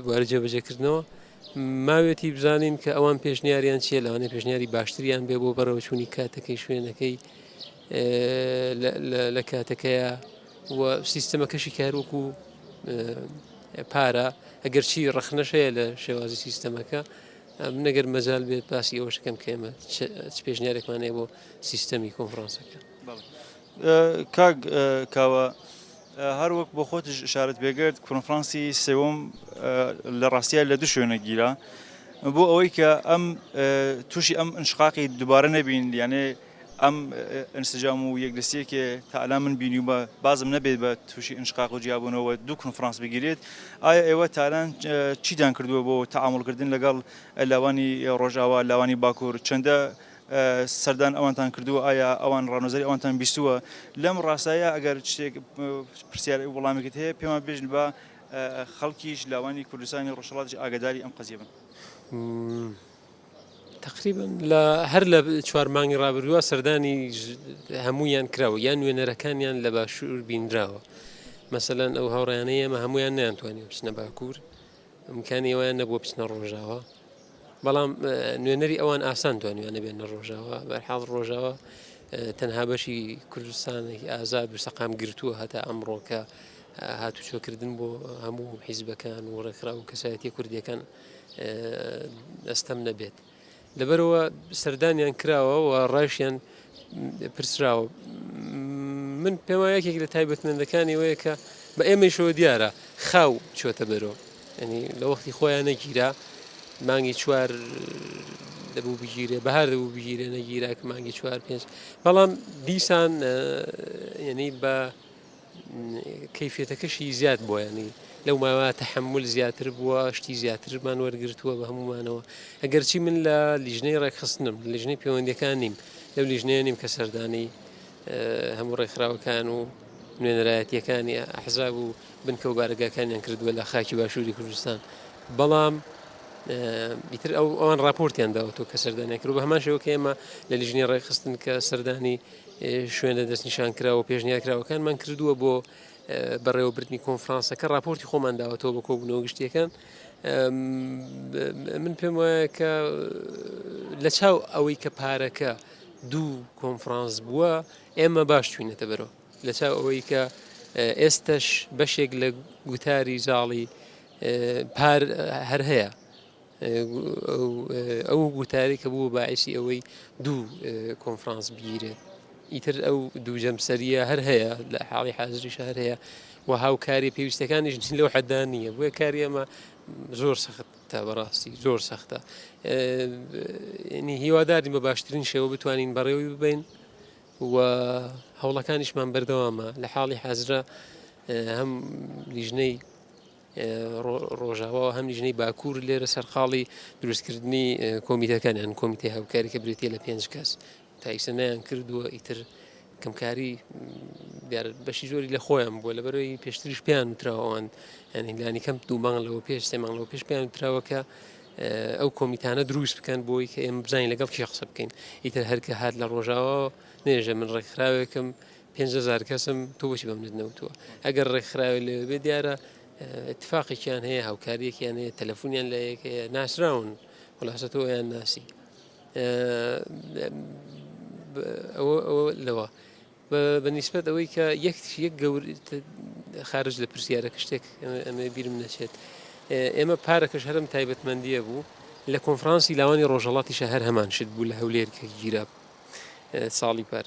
بوارە جێبەجێکردنەوە ماوێتی بزانین کە ئەوان پێشنیاریان چیە لەوانێ پێشنیاری باشتریان بێ بۆ بەرەوەچوونی کاتەکەی شوێنەکەی لە کاتەکەیە و سیستەمەکەشی کاروەکو پارە ئەگەرچی ڕخنەشەیە لە شێوازی سیستەمەکە من نەگەر مەزال بێت باسی ئەوە شکەم کە ئێمە پێشنیارێکمانەیە بۆ سیستەمی کۆنفرانسەکە کاک کاوە هەروەک بۆ خۆت شارت بێگرت کۆنفرانسی سێوم لە ڕاستە لە دو شوێنە گیرا بۆ ئەوەی کە ئەم تووشی ئەم انشقاقی دووبارە نەبین یانێ ئەم ئنسجام و یەکدەستیەکێ تا ئەلان من بینیومە بازم نەبێت بە تووشی ئنشقاق و جیابوونەوە دوو کنفرانس بگیرێت ئایا ئێوە تالان چیدان کردووە بۆ تەعاملکردن لەگەڵ لاوانی ڕۆژاوا لاوانی باکوور چەندە سەردان ئەوانتان کردووە ئایا ئەوان ڕامەزەری ئەوانتان بیستووە لەم ڕاستایە ئەگەر شتێک پرسیار وڵامێکت هەیە پێمان بێژن بە خەڵکیش لاوانی کوردستانی ڕۆژهەڵاتیش ئاگداری ئەم قەزیە بن. تەقریبەن لە هەر لە چوار مانگی ڕابردووە سەردانی هەموویان کراوە یان نوێنەرەکانیان لە باشوور بینراوە مەسەەن ئەو هاوڕیانە ئێمە هەمویان نیانتوانانی بچنە باکوور ئەمکانی ئەویان نەبووە بچنە ڕۆژاوە بەڵام نوێنەری ئەوان ئاسان توانیانە بێنە ڕۆژاوە بەرحاڵ ڕۆژاوە تەنها بەشی کوردستانێکی ئازاد و سەقام گرتووە هەتا ئەمڕۆکە هاتوچۆکردن بۆ هەموو حیزبەکان و ڕێکخرا و کەسایەتی کوردیەکان ئەستەم نەبێت لەبەرەوە سەردانیان کراوە و ڕایشیان پرسراوە من پێم وایە یەکێک لە تایبەتمەندەکانی وەیە کە بە ئێمەشەوە دیارە خاو چۆتە بەرۆ ینی لە وەختی خۆیان نەگیرا مانگی چوار دەبوو بگیرێ بەهار دەبوو بگیرێ نەگیرا کە مانگی چوار پێنج بەڵام دیسان ینی بە کەیفیەتەکەشی زیاد بووە ینی لەو ماوە تحمل زیاتر بووە شتی زیاترمان وەرگتووە بە هەمومانەوە ئەگەرچی من لە لیژنەی ڕێکخستنم لیژنەی پەیوەندەکان نیم لەو لیژنەیە نیم کە سەردانی هەموو ڕێکخراوەکان و نوێنەرایەتیەکانی ئەحزاب و بنکە و بارگاکانیان کردووە لە خاکی باشووری کوردستان بەڵام بیتر ئەو ئەوان راپۆرتیان داوەتەوە کە سەردانیان کرد بە هەمان شێوە کە ئێمە لە لیژنی ڕێکخستن کە سەردانی شوێنە دەستنیشانکراوە پێشنیارکراوەکانمان کردووە بۆ بەڕێوەبردننی کۆنفرانسەکە راپۆرتی خۆمان داوەتەوە بە کۆبوونەوە گشتیەکان من پێم وایە کە لە چاو ئەوەی کە پارەکە دوو کۆنفرانس بووە ئێمە باش چوینەتە بەرەوە لە چاو ئەوەی کە ئێستش بەشێک لە گوتاری زاڵی پار هەر هەیە ئەو گوتارەی کە بوو باعیشی ئەوەی دوو کۆنفرانس بگیرێت ئیتر ئەو دوو جەمسەریە هەر هەیە لە حاڵی حاضری شار هەیە و هاوکاری پێویستەکانیش لەو حەدا نییە بۆیە کاری ئەمە زۆر سەختە بەڕاستی زۆر سەختە هیوادارین بە باشترین شێوە بتوانین بەڕێوی ببین و هەوڵەکانیشمان بەردەوامە لە حاڵی حەزرە هەم لیژنەی ڕۆژاوا و هەم لیژنەی باکوور لێرە سەرقاڵی دروستکردنی کۆمیتەکان هەن کۆمیتی هاوکاری کە برێتی لە پێنج کەس تایسە نیان کردووە ئیتر کەمکاری بەشی زۆری لە خۆیان بووە لە بەرەوەی پێشتریش پێیان وتراوەوان یانیلانی کەم دوو مانگ لەوە پێش سێ مانگ لەوە پێش پێیان وتراوەکە ئەو کۆمیتانە دروست بکەن بۆی کە ئێمە بزانین لەگەڵ کێ قسە بکەین ئیتر هەرکە هات لە ڕۆژاوە نێژە من ڕێکخراوێکم پێنج هەزار کەسم تۆ بۆچی بە منت نەوتووە ئەگەر ڕێکخراوی لەوێ بێ دیارە اتفاقێکیان هەیە هاوکاریەکیان هەیە تەلەفۆنیان لە یەک هەیە ناسراون خلاصە تۆ یان ناسی لەوە بەنیسبەت ئەوەی کە یەک یەک گەور خارج لە پرسیارەکە شتێک ئەمە بیرم نەچێت ئێمە پارەکەش هەرم تایبەتمەندیە بوو لە کۆنفرانسی لاوانی ڕۆژەڵاتیشە هەر هەمان شت بوو لە هەولێر کە گیراب ساڵی پار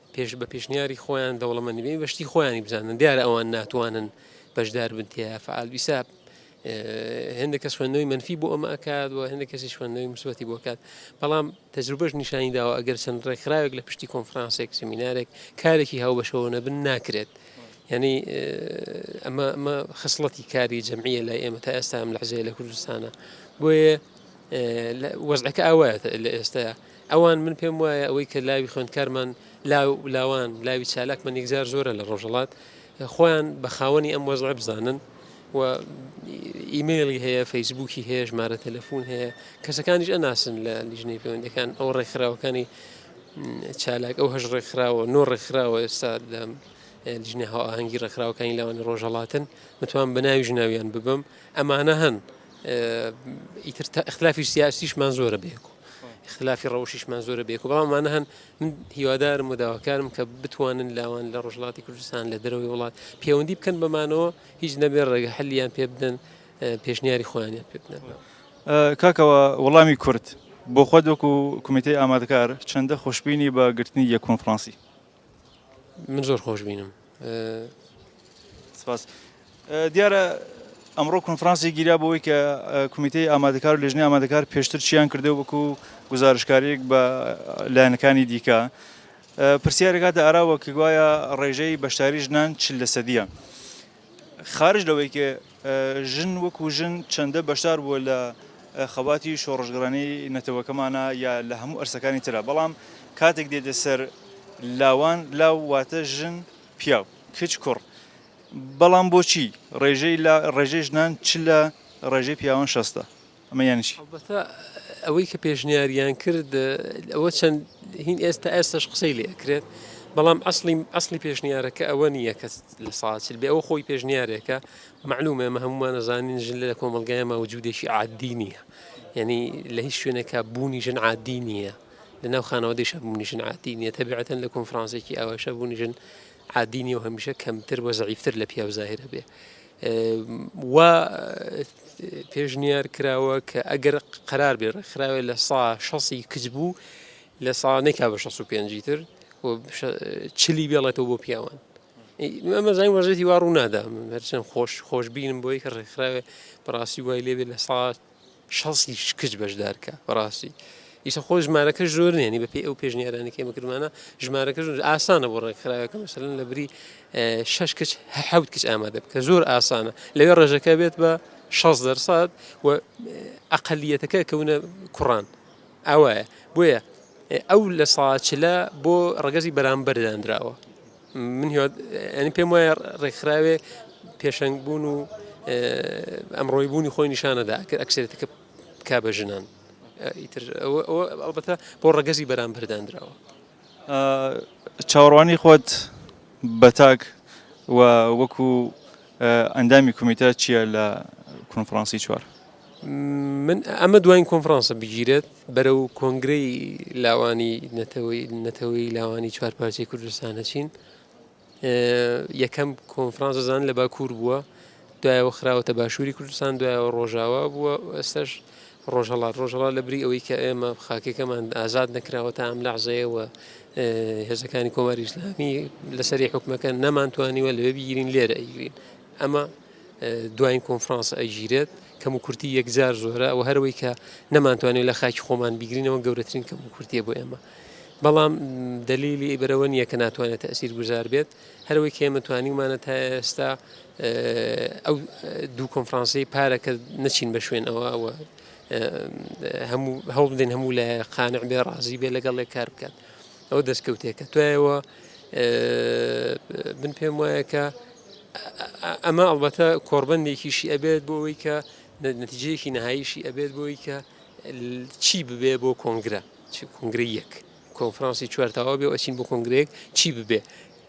پێش بە پێشنیاری خۆیان دەوڵەمەندی بێ بە شتی خۆیانی بزانن دیارە ئەوان ناتوانن بەشدار بن تێە فعال بیسا هەندە کەس خوێندنەوەی منفی بۆ ئەمە ئەکات و هەندە کەسی خوێندنەوەی مسوەتی بۆکات بەڵام تەجروبەش نیشانی داوە ئەگەر چەند ڕێکخراوێک لە پشتی کۆنفرانسێک سمینارێک کارێکی هاوبەشەوە نەبن ناکرێت. یعنی ئەمە ئەمە خصلەتی کاری جمعیە لای ئێمە تا ئێستا ئەم لەحزەیە لە کوردستانە بۆیە وەزعەکە ئاوایە لە ئێستا ئەوان من پێم وایە ئەوەی کە لاوی خوێندکارمان لاو لاوان لاوی چالاکمان یەکجار زۆرە لە ڕۆژەڵات خۆیان بە خاوەنی ئەم وەزڵە بزانن و ئیممەلی هەیە فەیسبووکی هەیە ژمارە تەلەفۆن هەیە کەسەکانیش ئەناسن لە لیژنەی پەیوەندەکان ئەو ڕێکخراوەکانی چالاک ئەو هەش ڕێکخراوە نۆ ڕێکخراوە ئێستا لە لیژنە هاوهەنگی ڕێکخراوەکانی لاوانی ڕۆژەڵاتن متوان بە ناوی ژناویان ببم ئەمانە هەن ئیتر تا اختلافی سیاسیشمان زۆرە بێکو اختلافی ڕەوشیشمان زۆرە بێکو بەڵامانە هەن من هیوادارم و داواکارم کە بتوانن لاوان لە ڕژڵاتی کوردستان لە دەرەوەی وڵات پەیوەندی بکەن بەمانەوە هیچ نەبێ ڕێگە هەلیان پێ بدەن پێشنیاری خۆیانیان پێ بدەن کاکەوە وەڵامی کورد بۆ خۆت وەکو کومیتەی ئامادەکار چەندە خۆشببینی بە گرتنی یە کۆنفرانسی من زۆر خۆش بینم. سپاس. دیارە ئەمڕۆ کۆنفرانسێک گیرا بۆی کە کمیتەی ئامادەکار و لێژنەی ئامادەکار پێشتر چیان کردو وەکو گزارشکاریێک بە لایەنەکانی دیکە پرسیارەکاتە ئاراوە کە گوایە ڕێژەی بەشداری ژنان چل لە سەدیە. خارج لەوەی کە ژن وەکو ژن چەندە بەشدار بووە لە خەباتی شۆڕشگڕانی نەتەوەکەمانا یا لە هەموو ئەرسەکانی ترا بەڵام کاتێک دێتە سەر لاوان لاو واتە ژن پیاو کچ کوڕ بەڵام بۆچی ڕێژەی لا ڕێژەی ژنان چ لە ڕێژەی پیاوان شەستە؟ ئەمە یانی چی؟ ئەڵبەتە ئەوەی کە پێشنیاریان کرد ئەوە چەند هین ئێستا ئێستش قسەی لێ ئەکرێت بەڵام ئەسڵی ئەسڵی پێشنیارەکە ئەوە نییە کە لە ساچل بێ ئەوە خۆی پێشنیارێکە معلومە ئەمە هەمومان ئەزانین ژن لە کۆمەلگای ماوجودێکی عادی نییە یعنی لە هیچ شوێنێکە بوونی ژن عادی نییە لەناو خانەوەدەیشە بوونی ژن عادی نییە تەبیعەتەن لە کۆنفرانسێکی ئاواشە بوونی ژن عادی نیە و هەمیشە کەمتر وە زەعیفتر لە پیاو زاهرە بێ وا پێشنیار کراوە کە ئەگەر قەرار بێ ڕێکخراوێ لە سا شەسی کچ بوو لە سا نەکا بە 65 تر چلی بێڵێتەوە بۆ پیاوان ئەمەزای وەزێتی وا ڕوونادا هەرچەند خۆش خۆشببینم بۆی کە ڕێکخراوێ بەڕاستی وای لێبێ لە سا شەسی کچ بەشدار کە بەڕاستی ئیسە خۆ ژمارەکە زۆر نێنی بە پێی ئەو پێشنیارانی کێمە کردمانە ژمارەکە زۆر ئاسانە بۆ ڕێکخراوەکە مەسەن لە بری شش کچ حەوت کچ ئامادە بکە زۆر ئاسانە لەوێ ڕێژەکە بێت بە 6 دەرسات و ئەقلیەتەکە کەونە کوڕان ئەوە بۆیە ئەو لە ساچلە بۆ ڕگەزی بەرامبەرداندراوە من هیواد ئەنی پێم وایە ڕێکخراوێ پێشەنگ بوون و ئەمڕۆی بوونی خۆی نیشانەدا کە ئەکسێتەکە کا بە ژنان ئیتر ئەڵبەتە بۆ ڕەگەزی بەرام بەرداندراوە چاوەڕوانی خۆت بەتاک و وەکو ئەندامی کومیتە چییە لە کۆنفرانسی چوار من ئەمە دوایین کۆنفرانسە بگیرێت بەرەو کۆنگرەی لاوانی نەتەوەیی لاوانی چوار پارچەی کوردستان هەچین یەکەم کۆنفرانس زان لە باکوور بووە دوایەوە خراوەتە باشووری کوردستان دوایەوە ڕۆژاوا بووە ئێستش ڕۆژهڵات ڕۆژهڵا لە بری ئەوەی کە ئێمە خاکەکەمان ئازاد نەکراوە تا ئەم لەعزەیەوە هێزەکانی کۆماری ئسلامی لەسەری حکومەکە نەمانتوانیوە لەوێ بگیرین لێرە ئەیگرین ئەمە دواین کۆنفرانس ئەگیرێت کەم و کورتی یەکجار زۆرە ئەوە هەروەی کە نەمانتوانێت لە خاکی خۆمان بیگرینەوە گەورەترین کەم و کورتیە بۆ ئێمە بەڵام دلیلی ئیبرەوە نییە کە ناتوانێت ئەسیر گوزار بێت هەروەی کێمە توانیمانە تا ئێستا ئەو دوو کۆنفرانسی پارە کە نەچین بە شوێن ئەوە ئەوە هەموو هەوڵ بدەین هەموو لە قانع بێ ڕازی بێ لەگەڵ لێ کار بکات. ئەو دەستکەوتێ کە توایەوە من پێم وایە کە ئەمە ئەڵبەتە کۆربندێکیشی ئەبێت بۆ ئەوی کە نەتیجەیەکی نەهاییشی ئەبێت بۆی کە چی ببێ بۆ کۆنگرە کنگرە یەک کۆنفرانسی چوارتاوا بێ ئەچین بۆ کۆنگرێک چی ببێ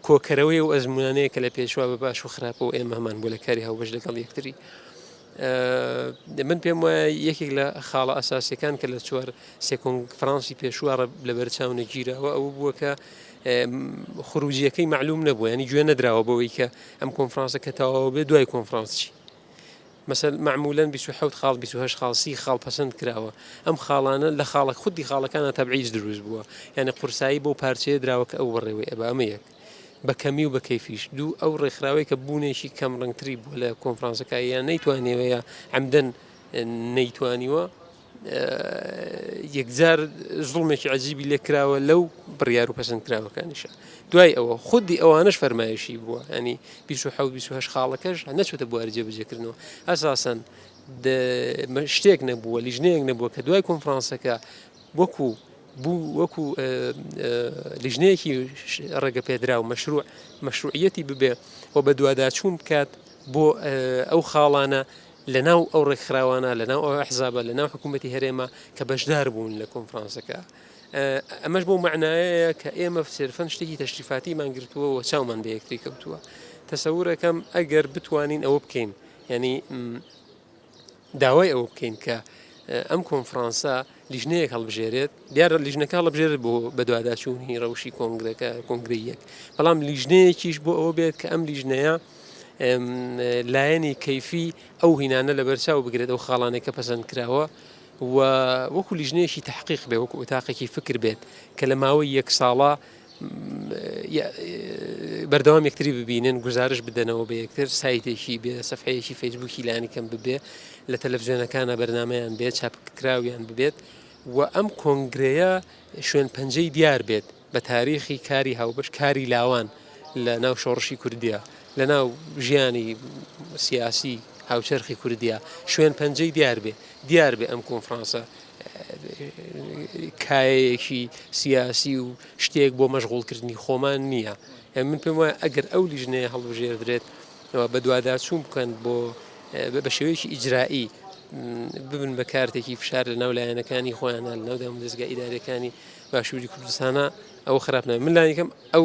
کۆکەرەوەی و ئەزمونانەیە کە لە پێشوا بە باش و خراپەوە ئێمە هەمان بۆ لە کاری هاوبەش لەگەڵ یەکتری من پێم وایە یەکێک لە خاڵە ئەساسیەکان کە لە چوار سێکۆنگ فرانسی پێشووە لە بەرچاو نەگیرەوە ئەو بووە کە خروجیەکەی معلوم نەبوو ینی گوێ نەدراوە بەوەی کە ئەم کۆنفرانسە کە تەواوە بێ دوای کۆنفرانسچی مەسەر معمولەن 28 خاڵ 28 خاڵسی خاڵ پەسەند کراوە ئەم خاڵانە لە خاڵە خودی خاڵەکانە تەبعیز دروست بووە یعنی قورسایی بۆ پارچەیە دراوە کە ئەو بەڕێوەی ئەبە ئەمە یەک بە کەمی و بە کەیفیش دوو ئەو ڕێکخراوەی کە بوونێکی کەم ڕنگتری بووە لە کۆنفرانسەکە یان نەیتوانێوەیە ئەمدەن نەیتوانیوە یەکجار زڵمێکی عجیبی لێکراوە لەو بڕیار و پەسەند کراوەکانیشە دوای ئەوە خودی ئەوانش فەرمایشی بووە ئەنی 1970 خاڵەکەش نەچێتە بواری جێبجێکردنەوە ئەساسەن شتێک نەبووە لیژنەیەک نەبووە کە دوای کۆنفرانسەکە وەکو بوو وەکو لیژنەیەکی ڕێگەپێدراو مەشروع مەشروعەتی ببێ و بە دوواداچوون بکات بۆ ئەو خاڵانە لە ناو ئەو ڕێکخراوانە لە ناو ئەو حزابە لە ناو حکوومەتتی هەرێمە کە بەشدار بوون لە کۆنفرانسەکە. ئەمەش بۆ معناایە کە ئێمە سێرفەن شتێکی تەشریفاتیمان گرتووە و چاومان بە یەکتری کەوتووە تەسەورەکەم ئەگەر بتوانین ئەوە بکەین یعنی داوای ئەوە بکەین کە ئەم کۆنفرانسە لیژنەیەک هەڵبژێرێت دیارە لیژنەکە هەڵبژێرت بۆ بەدواداچوونی ڕەوشی کۆنگرەکە کۆنگری یەک بەڵام لیژنەیەکیش بۆ ئەوە بێت کە ئەم لیژنەیە لایەنی کەیفی ئەو هینانە لە بەرچاو بگرێت ئەو خاڵانێک کە پەسەند کراوە و وەکو لیژنەیەکی تحقیق بێ وەکو ئۆتاقێکی فکر بێت کە لە ماوەی یەک ساڵە یە بەردەوام یەکتری ببینن گزارش بدەنەوە بە یەکتر سایتێکی بێ سەفحەیەکی فەیسبووکی لانیکەم ببێ لە تەلەڤزیۆنەکانە بەرنمەیان بێت چاپکراویان ببێت و ئەم کۆنگرەیە شوێن پەنجەی دیار بێت بە تاریخی کاری هاوبەش کاری لاوان لە ناو شۆڕشی کوردیا لە ناو ژیانی سیاسی هاوچەرخی کوردیا شوێن پەنجەی دیار بێ دیار بێ ئەم کۆنفرانسە کایەیەکی سیاسی و شتێک بۆ مەشغوڵکردنی خۆمان نییە من پێم وایە ئەگەر ئەو لیژنەیە هەڵبژێردرێت بە دوواداچوون بکەن بۆ بە شێوەیەکی ئیجرایی ببن بە کارتێکی فشار لە ناو لایەنەکانی خۆیانە لەو دەم دەستگە ئیدارەکانی باشووری کوردستانە ئەو خراپە من لایەکەم ئەو